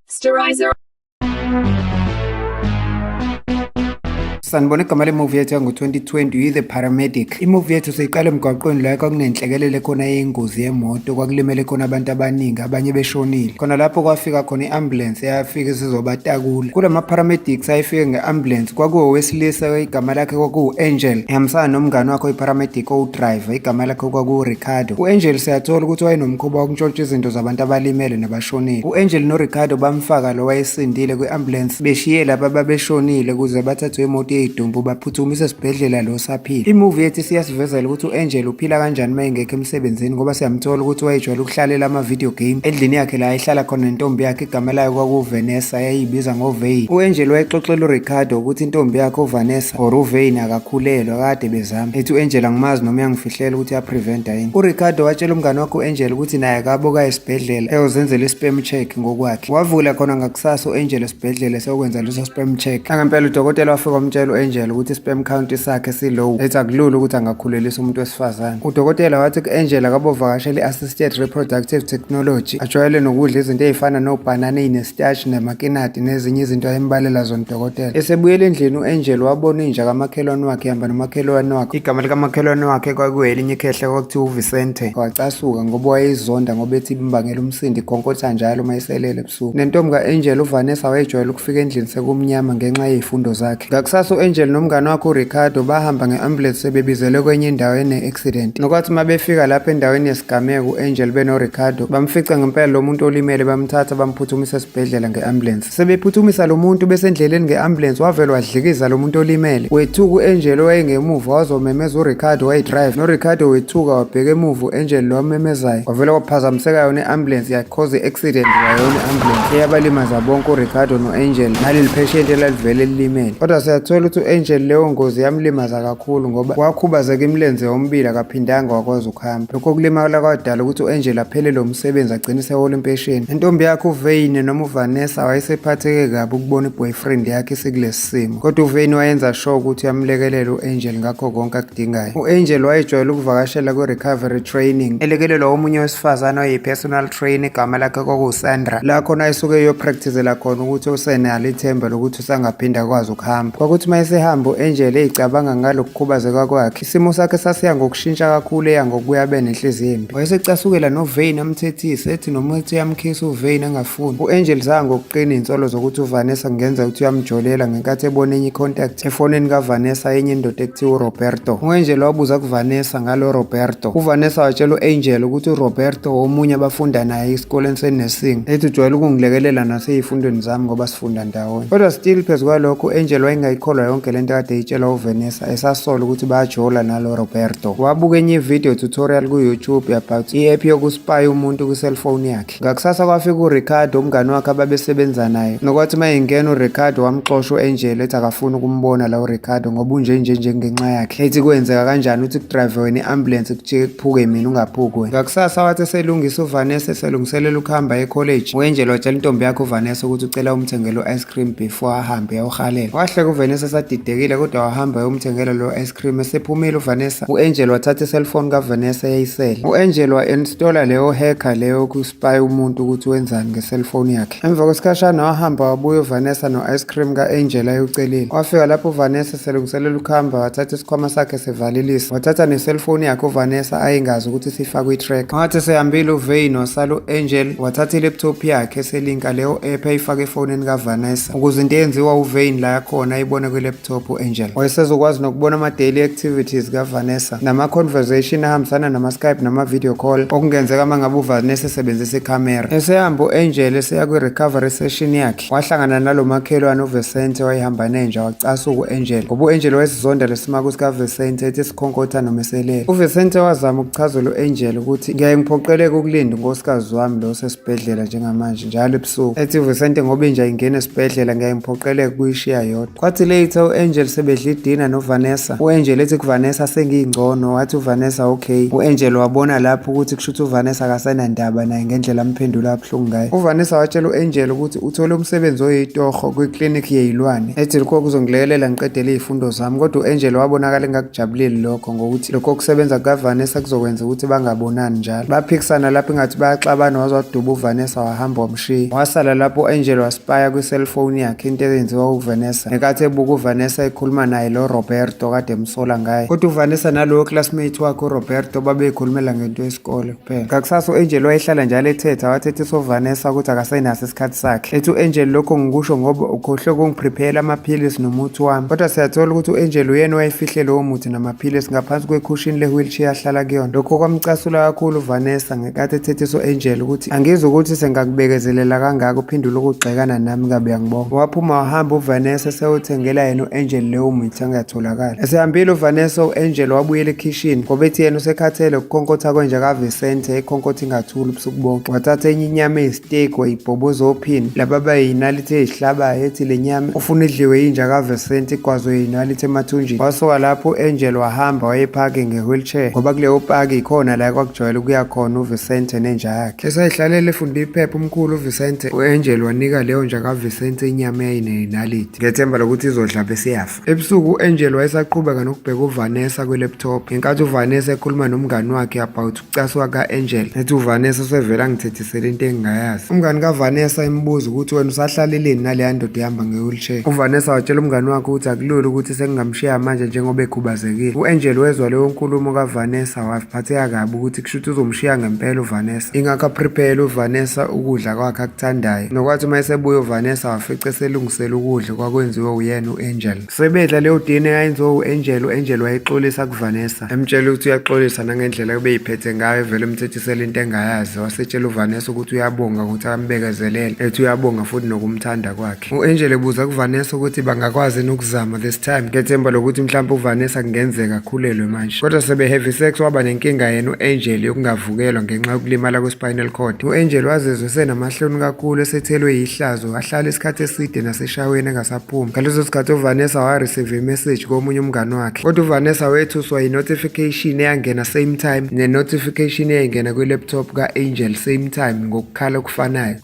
Sterilizer. sanibona igama lemuvi yethu yango-2020 uyi-the paramedic imuvi yethu siyiqale emgwaqweni la kwakunenhlekelele khona yengozi yemoto kwakulimele khona abantu abaningi abanye beshonile khona lapho kwafika khona i-ambulensi seyafike sizobatakula kula ma-paramedics ayefike nge-ambulance kwakuwowesilisa igama lakhe kwakuwu-angel ehambisana nomngane wakhe oyi-paramedic owudriver igama lakhe kwakuwuricardo u-angel siyathola ukuthi wayenomkhuba wokuntshontsha izinto zabantu abalimele nabashonile u-angel noricardo bamfaka lo wayesindile kwi-ambulance beshiye laba babeshonile ukuze bathathwe imoto yeyidumbu baphuthumise esibhedlela lo saphila. I-movie ethi siyasivezela ukuthi u-Angel uphila kanjani uma engekho emsebenzini ngoba siyamthola ukuthi wayejwayele ukuhlalela ama-video game endlini yakhe la ayehlala khona nentombi yakhe igama layo kwakuVanessa yayibiza ngoVein. U-Angel wayexoxela uRicardo ukuthi intombi yakhe uVanessa or uVein akakhulelwa kade bezama. Ethi u-Angel angimazi noma uyangifihlela ukuthi uyapreventa yini. URicardo watshela umngane wakhe u-Angel ukuthi naye akaboka esibhedlela eyozenzela i-sperm check ngokwakhe. Wavukela khona ngakusasa u-Angel esibhedlela sokwenza leso sperm check angempela udokotela wafika wamtshela u-angel ukuthi i-sperm count sakhe si-low ethi akulula ukuthi angakhulelisa umuntu wesifazane udokotela wathi ku-angel akabovakashela i-assisted reproductive technology ajwayele nokudla izinto ezifana nobhanana eyinesitashi nemakinati nezinye izinto ayembalela zona udokotela esebuyela endlini u-angel wabona inja kamakhelwane wakhe ihamba nomakhelwane wakhe igama likamakhelwane wakhe kwakuwelinye ikhehle kwakuthiwa uvicente wacasuka ngoba wayeyizonda ngoba ethi imbangela umsindi ikhonkotha njalo uma iselele ebusuku. Nentombi ka-Angel uVanessa wayejwayele ukufika endlini sekumnyama ngenxa yezifundo zakhe. Ngakusasa u-Angel nomngane wakhe uRicardo bahamba nge-ambulance sebebizelwe kwenye indawo ene-accident. Nokwathi uma befika lapho endaweni yesigameko u-Angel benoRicardo bamfica ngempela lo muntu olimele bamthatha bamphuthumisa esibhedlela nge-ambulance. Sebephuthumisa lo muntu besendleleni nge-ambulance wavele wadlikiza lo muntu olimele. Wethuka u-Angel owayengemuva wazomemeza uRicardo wayedrive. NoRicardo wethuka wabheka emuva u-Angel lo wamemezayo. Wavele waphazamiseka yona i-ambulance yakhe. Cause i-accident wayona i-ambulance eyabalimaza bonke uricardo no-angel naleli pheshenti elalivele lilimele kodwa siyathola ukuthi u-angel leyo ngozi yamlimaza kakhulu ngoba wakhubazeka imilenze yomibili akaphindanga wakwazi ukuhamba lokho kulimala kwadala ukuthi u-angel aphele lo msebenzi agcine sehola impesheni intombi yakhe uveyine noma uvanessa wayesephatheke kabi ukubona i-boyfriend yakhe isikulesi isimo. Kodwa uVein wayenza sure ukuthi uyamlekelela u-Angel ngakho konke akudingayo. U-Angel wayejwayele ukuvakashela kwi-recovery training elekelelwa omunye wesifazane oyi-personal trainer igama lakhe kwakuwusandra la khona esuke iyopractizela khona ukuthi usenalo ithemba lokuthi usangaphinda akwazi ukuhamba. Kwakuthi uma esehamba u-Angel eyicabanga ngalo kukhubazeka kwakhe Isimo sakhe sasiya ngokushintsha kakhulu eya ngokubuya abe nenhliziyo embi. Wayesecasukela noVein amthethise ethi noma ethi uyamkhisa uVein angafuni. U-Angel zanga ngokuqina izinsolo zokuthi uVanessa kungenza ukuthi uyamjolela ngenkathi ebona enye icontact efonini kaVanessa yenye indoda ekuthiwa uRoberto. U-Angel wabuza kuVanessa ngalo Roberto. UVanessa watshela u-Angel ukuthi uRoberto omunye abafunda naye esikoleni senursing ethi ujwayele ukungilekelela naseyifundweni zami ngoba sifunda ndawonye. Kodwa still phezu kwalokho u-Angel wayengayikholwa yonke lento kade eyitshelwa uVanessa. esasola ukuthi bayajola nalo Roberto wabuka enye video tutorial ku YouTube about i app yokuspy umuntu ku cellphone yakhe ngakusasa kwafika u Ricardo umngani wakhe ababesebenza naye nokwathi mayengena u Ricardo wamxosha u Angel ethi akafuni ukumbona la u Ricardo ngoba unje nje nje ngenxa yakhe ethi kwenzeka kanjani uthi kudrive wena iambulance kujike kuphuke mina ungaphuki wena ngakusasa wathi selungisa u Vanessa selungiselela ukuhamba e college u Angel watshela intombi yakhe u Vanessa ukuthi ucela umthengele u ice cream before ahambe ayowuhalela wahleka uvanessa esadidekile kodwa wahamba ayomthengela lo ice cream esephumile uvanessa u-angel wathatha iselfoni kavanessa yayisele u-angel wa-installa leyo hacker leyo kuspy umuntu ukuthi wenzani ngeselfoni yakhe emva kwesikhashana wahamba wabuya uvanessa no-ice cream ka-angel ayewucelile wafika lapho uvanessa selungiselela ukuhamba wathatha isikhwama sakhe sevalilisa wathatha neselfoni yakhe uvanessa ayingazi ukuthi sifakwe itrack wathi sehambile uvein wasala u-angel wathatha ileptop yakhe selinka leyo app ayifake efonini kavanessa ukuze into eyenziwa uvein la yakhona ayibone kwileptop u-angel wayesezokwazi nokubona ama-daily activities kavanessa nama-conversation ahambisana nama-skype nama-video call okungenzeka uma ngabe uvanessa esebenzisa ikhamera esehamba u-angel eseya kwi-recovery session yakhe Wahlangana nalo makhelwane uVesente wayehamba nenja wacasuka u-Angel ngoba u-Angel wayesizonda lesimaku sikaVesente ethi sikhonkotha nomeselele. UVesente wazama ukuchazela u-Angel ukuthi ngiyaye ngiphoqeleke ukulinda unkosikazi wami lo osesibhedlela njengamanje njalo ebusuku. Ethi uVesente ngoba inja ingena esibhedlela ngiyaye ngiphoqeleke ukuyishiya yodwa. Kwathi later u-Angel sebedla idina noVanessa. U-Angel ethi kuVanessa sengiyingcono wathi uVanessa okay. U-Angel wabona lapho ukuthi kushuthi uVanessa akasenandaba naye ngendlela amphendula abuhlungu ngayo. UVanessa watshela u-Angel ukuthi uthole umsebenzi oyitoho kwi-clinic yeyilwane. Ethi lokho kuzongilekelela ngiqedele izifundo zami kodwa u-Angel wabonakala engakujabuleli lokho ngokuthi lokho kusebenza kukaVanessa kuzokwenza ukuthi bangabonani njalo. Baphikisana lapho ingathi bayaxabana waze waduba uVanessa wahamba Tree. Wasala lapho u-Angel waspaya kwi-cellphone yakhe into eyenziwa uVanessa. Ngenkathi ebuka uVanessa ekhuluma naye lo Roberto kade emsola ngaye. Kodwa uVanessa nalowo classmate wakhe uRoberto babeyikhulumela ngento yesikole kuphela. Ngakusasa u-Angel wayehlala njalo ethetha wathethisa uVanessa ukuthi akasenaso isikhathi sakhe. Ethi u-Angel lokho ngikusho ngoba ukhohlwe kungiprepayela amaphilisi nomuthi wami. Kodwa siyathola ukuthi u-Angel uyena owayefihle lowo muthi namaphilisi ngaphansi kwekhushini le-wheelchair ahlala kuyona. Lokho kwamcasula kakhulu uVanessa. ngenkathi ethethiswa enjela ukuthi angizwa ukuthi sengakubekezelela kangaka uphendula ukugxekana nami kabi yangibonga waphuma wahamba uvanessa sewuthengela yena u-angel lewo mithi angatholakali esehambile uvanessa u-angel wabuyela ekhishini ngoba ethi yena usekhathele ukukhonkotha kwenja kavisente ikhonkotha ingathuli ubusuku bonke wathatha enye inyama steak wayibhoboza ophini laba bayinalite ezihlabayo ethi le nyama ufuna idliwe yinja kavesenti igwazwe yinalite emathunjini wasuka lapho u-angel wahamba wayephake nge-wheelchair ngoba kuleyo paki yikhona la kwakujwayele ukuya khona uvesente nenja yakhe esayihlalele efunda iphepha umkhulu uvesente u-angel wanika leyo nja kavesente inyama eyayineyinalite ngethemba lokuthi izodla bese yafa Ebusuku u-Angel wayesaqhubeka nokubheka uVanessa kwi-laptop ngenkathi uVanessa ekhuluma nomngani wakhe about ukucaswa ka-Angel ethi uVanessa usevele angithethisele into engingayazi umngani kaVanessa imbuza ukuthi wena usahlaleleni naleya ndoda ehamba nge-wheelchair uVanessa watshela umngani wakhe ukuthi akulula ukuthi sengingamshiya manje njengoba ekhubazekile u-Angel wezwa leyo nkulumo kaVanessa waphatheka kabi ukuthi kusho ukuthi uzomshiya ngempela uVanessa ingakho aprepele uVanessa ukudla kwakhe akuthandayo nokwathi uma esebuya uVanessa wafica eselungisela ukudla kwakwenziwe uyena u-angel sebedla leyo dna yayenziwe u-angel u-angel wayexolisa kuvanessa emtshela ukuthi uyaxolisa nangendlela kubeyiphethe ngayo evele emthethisela into engayazi wasetshela uvanessa ukuthi uyabonga ukuthi ambekezelele ethi uyabonga futhi nokumthanda kwakhe u-angel ebuza kuvanessa ukuthi bangakwazi nokuzama this time ngethemba lokuthi mhlawumbe uvanessa kungenzeka akhulelwe manje kodwa sebe-heavy sex waba nenkinga yena u-angel yokungavukelwa ngenxa yokulimala kwe-spinal cord u-angel wazezwe senamahloni kakhulu esethelwe yihlazo Wahlala isikhathi eside naseshaweni engasaphumi. Ngaleso sikhathi uVanessa wareceive imessage komunye umngane wakhe. Kodwa uVanessa wethuswa yi-notification eyangena same time ne-notification eyayingena kwi-laptop ka-Angel same time ngokukhala okufanayo.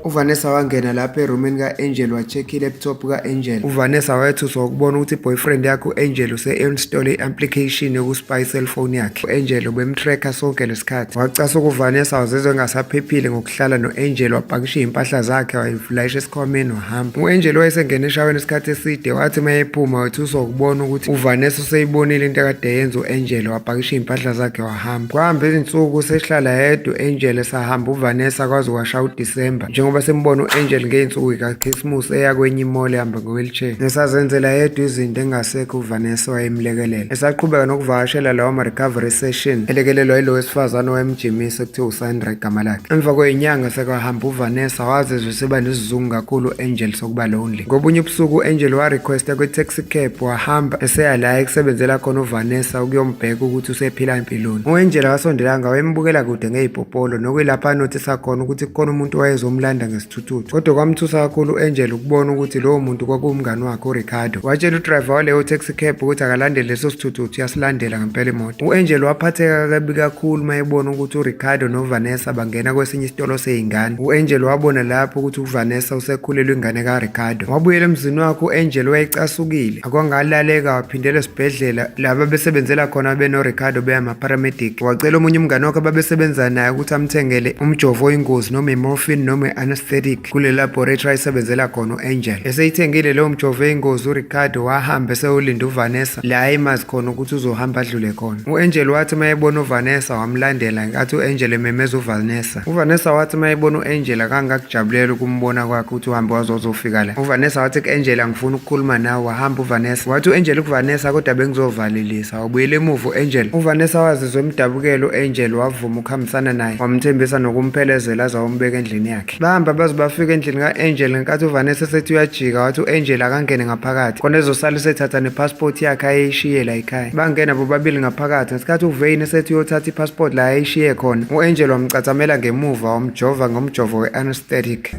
uvanessa wangena lapha erumini ka-angel wa-check i-laptop ka-angel uvanessa wayethuswa ukubona ukuthi i-boyfriend yakhe u-angel use-install i-application yokuspy i-cellphone yakhe u-angel ubemtracker sonke isikhathi wacasa ukuvanessa wazizwe engasaphephile ngokuhlala no-angel wapakisha izimpahla zakhe wayivulayisha esikhwameni wahamba u-angel wayesengena eshaweni isikhathi eside wathi uma ephuma wethuswa ukubona ukuthi uvanessa useyibonile into akade yenza u-angel wapakisha izimpahla zakhe wahamba kwahamba izinsuku sehlala yedwa u-angel esahamba uvanessa kwaze kwasha udisemba njengoba sembona u-angel ngey'nsuku ikakhisimusi eya kwenye imole ehamba ngowheelchair nesazenzela yedwa izinto engasekho uvanessa wayemlekelela esaqhubeka nokuvakashela lawo ma-recovery session elekelelwa yilo wesifazane owayemjimisa ekuthiwa usandra igama lakhe emva kweyinyanga sekwahamba uvanessa wazizwa useba nesizungu kakhulu u-angel sokuba lonely ngobunye ubusuku u-angel warequesta kwi-taxi cab wahamba eseya la ekusebenzela khona uvanessa ukuyombheka ukuthi usephila empilweni u-angel wasondelanga wayembukela kude ngeyipopolo nokuyilapha anothisa khona ukuthi kukhona umuntu wayezomlanda ngesithuthi Thuthu. Kodwa kwamthusa kakhulu u-Angel ukubona ukuthi lowo muntu kwakuwumngani wakhe uRicardo. Watshela udriver waleyo taxi cab ukuthi akalandele leso sithuthuthu yasilandela ngempela imoto. U-Angel waphatheka kabi kakhulu uma ebona ukuthi uRicardo noVanessa bangena kwesinye isitolo seyingane. U-Angel wabona lapho ukuthi uVanessa usekhulelwe ingane kaRicardo. Wabuyela emzini wakhe u-Angel wayecasukile. akwangalaleka waphindela esibhedlela laba besebenzela khona benoricardo beyamapharamedic wacela omunye umngane wakhe ababesebenza naye ukuthi amthengele umjovo oyingozi noma imorphin noma i-anesthetic kule laboratory ayisebenzela khona u-angel eseyithengile leyo mjovo eyingozi uricardo wahamba esewulinde uvanessa la emazi khona ukuthi uzohamba adlule khona u-angel wathi uma ebona uvanessa wamlandela nkathi u-angel ememeza uvanessa uvanessa wathi uma ebona u-angela kangakujabulela ukumbona kwakhe ukuthi uhambe wazozofika la uvanessa wathi ku-angela ngifuna ukukhuluma nawe wahamba uvanessa wathi u-angela kuvanessa kodwa bengizovalelisa wabuyela emuva u-angela uvanessa wazizwa emdabukela u-angela wavuma ukuhambisana naye wamthembisa nokumphelezela aze wayombeka endlini yakhe bahamba baze bafika endlini ka-angela ngenkathi uvanessa esethi uyajika wathi u-angela akangene ngaphakathi khona ezosala esethatha nepasipoti yakhe ayeyishiyela ekhaya Bangena bobabili ngaphakathi ngesikhathi uVein esethi uyothatha ipassport la ayishiye khona. U-Angel wamcathamela ngemuva wamjova ngomjovo we-anesthetic.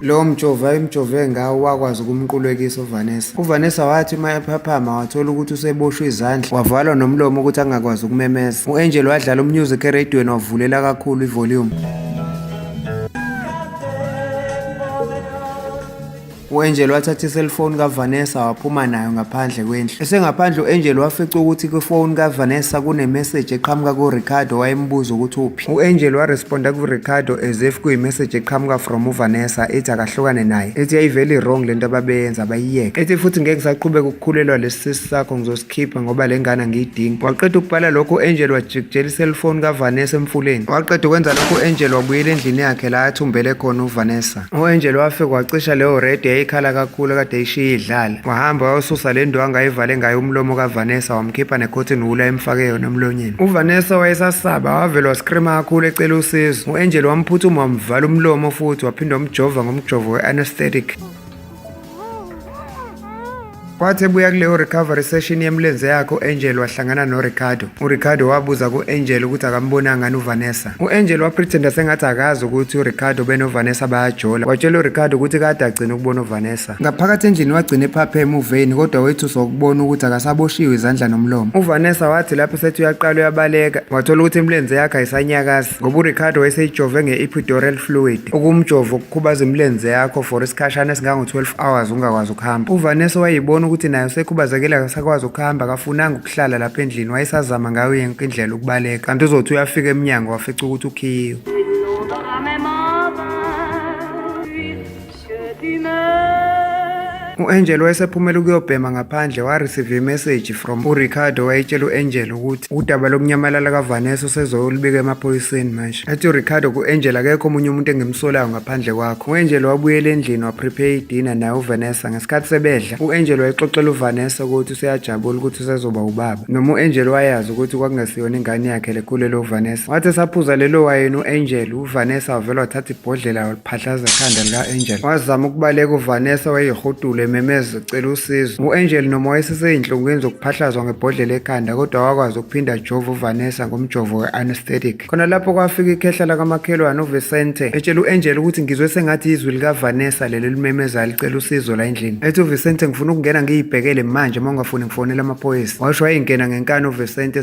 Lowo mjovo ayemjove ngawo wakwazi ukumqulekisa uVanessa. UVanessa wathi uma ephaphama wathola ukuthi useboshwe izandla, wavalwa nomlomo ukuthi angakwazi ukumemeza. U-Angel wadlala umusic eradiyweni wavulela kakhulu ivolume. U-Angel wathatha iselfoni kaVanessa waphuma nayo ngaphandle kwendlu. Esengaphandle u-Angel wafica ukuthi kwifoni kaVanessa kunemeseji eqhamuka kuRicardo wayembuza ukuthi uphi. U-Angel waresponda kuRicardo as if kuyimeseji eqhamuka from uVanessa ethi akahlukane naye. Ethi yayivele i-wrong lento ababeyenza bayiyeke. Ethi futhi ngeke ngisaqhubeka ukukhulelwa lesi sisi sakho ngizos khipha ngoba le ngane angiyidingi waqeda ukubhala lokho u-angel wajikijela iselfoni kavanessa emfuleni waqeda ukwenza lokho u-angel wabuyela endlini yakhe la athumbele khona uvanessa u-angel wafika wacisha leyo redi yayikhala kakhulu kade eyishiye idlala wahamba wayosusa le ndo angayivale ngayo umlomo kavanessa wamkhipha nekhothini wula emfake yona emlonyeni uvanessa wayesasaba wavele waskrima kakhulu ecela usizo u-angel wamphuthuma wamvala umlomo futhi waphinde wamjova ngomjovo we-anesthetic Wathi ebuya kuleyo recovery session yemlenze yakhe u-Angel wahlangana noRicardo. URicardo wabuza ku-Angel ukuthi akambonanga ngani uVanessa. U-Angel wapretenda sengathi akazi ukuthi uRicardo benoVanessa bayajola. Watshela uRicardo ukuthi kade agcina ukubona uVanessa. Ngaphakathi endlini wagcina ephapheme uveyini kodwa wethuswa ukubona ukuthi akasaboshiwe izandla nomlomo. UVanessa wathi lapho sethi uyaqala uyabaleka wathola ukuthi imlenze yakhe ayisanyakazi. ngoba uricardo wayeseyijove nge-epidural fluid ukumjova ukukhubaza imilenze yakho for isikhashana esingango-12 hours ungakwazi ukuhamba uvanessa wayeyibona ukuthi naye usekhubazekile akasakwazi ukuhamba akafunanga ukuhlala lapha endlini wayesazama ngayo yonke indlela ukubaleka kanti uzothi uyafika emnyango wafica ukuthi ukhiyiwe U-Angel wayesephumela ukuyobhema ngaphandle wareceive imessage from uRicardo wayetshela u-Angel ukuthi udaba lokunyamalala kaVanessa usezoyolibika emaphoyiseni manje. Athi uRicardo ku-Angel akekho omunye umuntu engimsolayo ngaphandle kwakho. U-Angel wabuyela endlini waprepare idina naye uVanessa. Ngesikhathi sebedla, u-Angel wayexoxela uVanessa ukuthi useyajabula ukuthi usezoba ubaba. Noma u-Angel wayazi ukuthi kwakungesiyona ingane yakhe lekhulele uVanessa. Wathi esaphuza lelo wayini u-Angel, uVanessa wavele wathatha ibhodlela phahlaza ikhanda lika-angel wazama ukubaleka uvanessa wayehudula ememeza cela usizo u-angel noma wayeseseyinhlungwini zokuphahlazwa ngebhodlela ekhanda kodwa wakwazi ukuphinda ajova uvanessa ngomjovo we-anesthetic khona lapho kwafika ikhehla lakamakhelwane uvicente etshela u-angel ukuthi ngizwe sengathi izwi likavanessa leli limemezayo licela usizo la endlini ethi uvicente ngifuna ukungena ngiyibhekele manje uma ungafuni ngifonela amaphoyisa washo wayengena ngenkani uvicente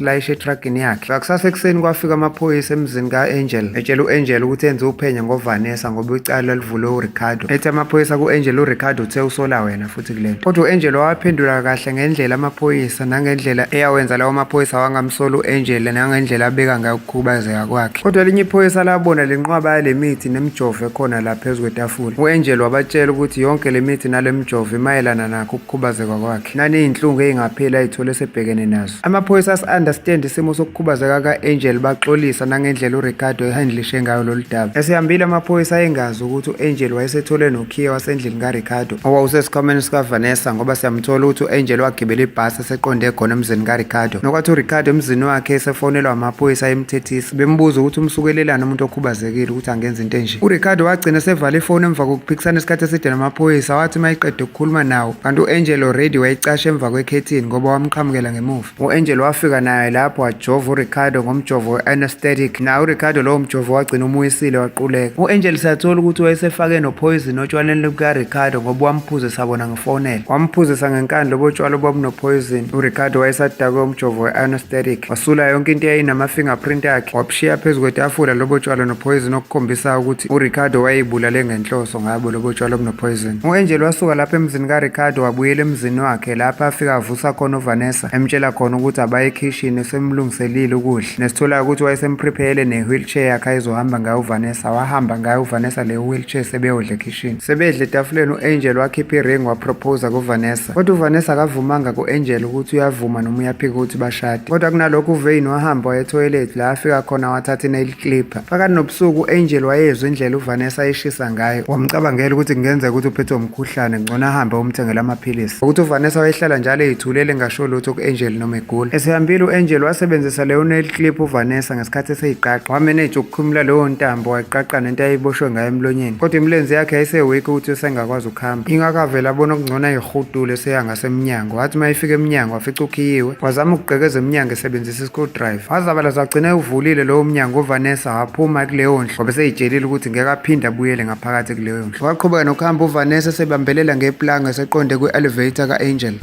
layishe etragini yakhe ngakusasa ekuseni kwafika amaphoyisa emzini ka-angel etshela u-angel ukuthi enze uphenyo ngovanessa ngoba icala lalivulwe uricardo ethi amaphoyisa ku-angel uricardo uthe usola wena futhi kule nto kodwa u-angel wawaphendula kahle ngendlela amaphoyisa nangendlela eyawenza lawo maphoyisa wangamsola u-angel nangendlela abeka ngayo ukukhubazeka kwakhe kodwa elinye iphoyisa labona lenqwaba yale mithi nemijovo ekhona la phezu kwetafula u-angel wabatshela ukuthi yonke le mithi nale mijovo imayelana nakho ukukhubazeka kwakhe naniyinhlungu eyingapheli ayithole esebhekene nazo Amaphoyisa asi-understand isimo sokukhubazeka ka-Angel baxolisa nangendlela uRicardo ehandlishe ngayo lolu daba. Esihambile amaphoyisa ayengazi ukuthi u-Angel wayesethole nokhiye wasendlini kaRicardo owawusesikhwameni sikaVanessa ngoba siyamthola ukuthi u-Angel wagibela ibhasi eseqonde khona emzini kaRicardo. Nokwathi uRicardo emzini wakhe esefonelwa amaphoyisa emthethisa bembuza ukuthi umsukelelani umuntu okhubazekile ukuthi angenza into enje. URicardo wagcina sevala ifoni emva kokuphikisana isikhathi eside namaphoyisa wathi mayeqede ukukhuluma nawo kanti u-angel already wayicasha emva kwekhethini ngoba wamqhamukela ngemuva u-angel wafika naye lapho wajova uricardo ngomjovo we-anesthetic naye uricardo lowo mjovo wagcina umuyisile waquleka u-angel sathola ukuthi wayesefake nophoyizini otshwaleni lukaricardo ngoba wamphuze sabona ngefonela wamphuzisa ngenkani lobo tshwala obabunophoyizini uricardo wayesadakwe umjovo we-anesthetic wasula yonke into eyayinama-fingerprint akhe wabushiya phezu kwetafula lobo tshwala nophoyizini okukhombisa ukuthi uricardo wayeyibulale ngenhloso Ngabo lobo tshwala obunopoison. U-Angel wasuka lapha emzini kaRicardo wabuyela emzini wakhe lapho afika avusa khona uVanessa emtshela khona ukuthi abaye ekhishini usemlungiselile ukudla. Nesitholayo ukuthi wayesemprepare ne-wheelchair yakhe ayizohamba ngayo uVanessa. Wahamba ngayo uVanessa le wheelchair sebeyodla ekhishini. Sebedla etafuleni u-Angel wakhipha i-ring waproposa kuVanessa. Kodwa uVanessa akavumanga ku-Angel ukuthi uyavuma noma uyaphika ukuthi bashade. Kodwa kunalokho uVein wahamba waye-toilet la afika khona wathatha i-nail Clip. Phakathi nobusuku u-Angel wayezwa indlela uVanessa ayishisa ngayo. Wamcabangela ukuthi kungenzeka ukuthi uphethwe umkhuhlane, ngcono ahambe umthengela amaphilisi. Ukuthi uVanessa wayehlala njalo eyithulele engasho lutho ku-Angel noma egula. Esehambile u-Angel wasebenzisa leyo nail clip uVanessa ngesikhathi eseyiqaqa. Wameneja ukukhumula leyo ntambo wayiqaqa nento ayeyiboshwe ngayo emlonyeni. Kodwa imilenze yakhe yayisewiki ukuthi usengakwazi ukuhamba. Ingakho avele abona okungcono ayihudule eseya ngasemnyango. Wathi uma efika emnyango wafica ukhiyiwe. Wazama ukugqekeza emnyango esebenzisa screwdriver wazabala zagcina ewuvulile lowo mnyango uvanessa waphuma kuleyo ndlu ngoba seyitshelile ukuthi ngeke aphinde abuyele ngaphakathi kuleyo ndlu waqhubeka nokuhamba uvanessa esebambelela ngeplanga eseqonde kwi-elevator ka-angel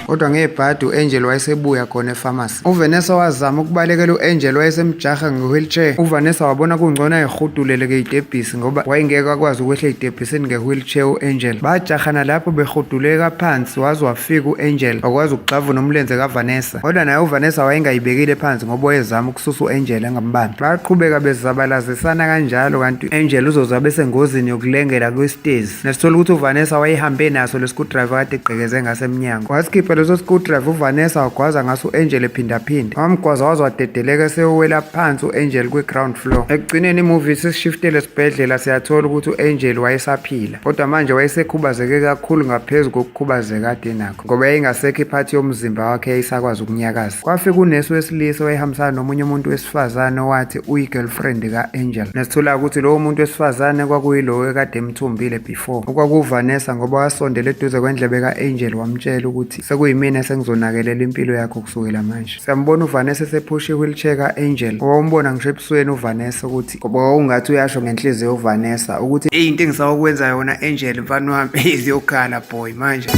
kodwa ngebhadi u-angel wayesebuya khona efamasi uvanessa wazama ukubalekela u-angel wayesemjaha nge-wheelchair uvanessa wabona kungcono ayehuduleleke itebhisi ngoba wayengeke akwazi ukwehla itebhisini nge-wheelchair u-angel bajahana lapho behuduleka phansi waze Fika u-Angel wakwazi ukugxavuna umlenze kaVanessa kodwa naye uVanessa wayengayibekile phansi ngoba wayezama ukususa u-Angel angambambi. Baqhubeka bezabalazisana kanjalo kanti u-Angel uzoze abe sengozini yokulengela kwisitezi. Nasithola ukuthi uVanessa wayehambe naso le screwdriver kade egqekeze ngaso emnyango. Wasikhipha leso screwdriver uVanessa wagwaza ngaso u-Angel ephindaphinda. Wamgwaza waze wadedeleka esewela phansi u-Angel kwi-ground floor. Ekugcineni imovie sisishiftele esibhedlela siyathola ukuthi u-Angel wayesaphila. kodwa manje wayesekhubazeke kakhulu ngaphezu kokukhubazeka ade nakho ngoba yayingasekho iphathi yomzimba wakhe yayisakwazi ukunyakaza kwafika unesi wesilisa owayehambisana nomunye umuntu wesifazane owathi uyi-girlfriend ka-angel nesithula ukuthi lowo muntu wesifazane kwakuyilowo ekade emthumbile before okwakuvanessa ngoba wasondela eduze kwendlebe ka-angel wamtshela ukuthi sekuyimina sengizonakelela impilo yakho kusukela manje siyambona uvanessa esephusha i-wheelchair ka-angel owawumbona ngisho ebusweni uvanessa ukuthi ngoba wawungathi uyasho ngenhliziyo uvanessa ukuthi eyi into engisawukwenza yona angel mfana wami ziyokhala boy manje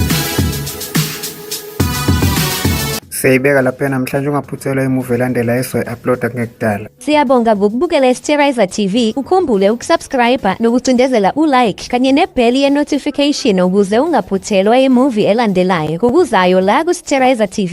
siyayibeka lapha namhlanje ungaphuthelwa imuvi elandela esoyi-uploada kungekudala siyabonga ngokubukela isterriser tv ukhumbule ukusubscribe nokucindezela ulike kanye nebheli ye-notification ukuze ungaphuthelwa imuvi elandelayo ngokuzayo la kusterriser tv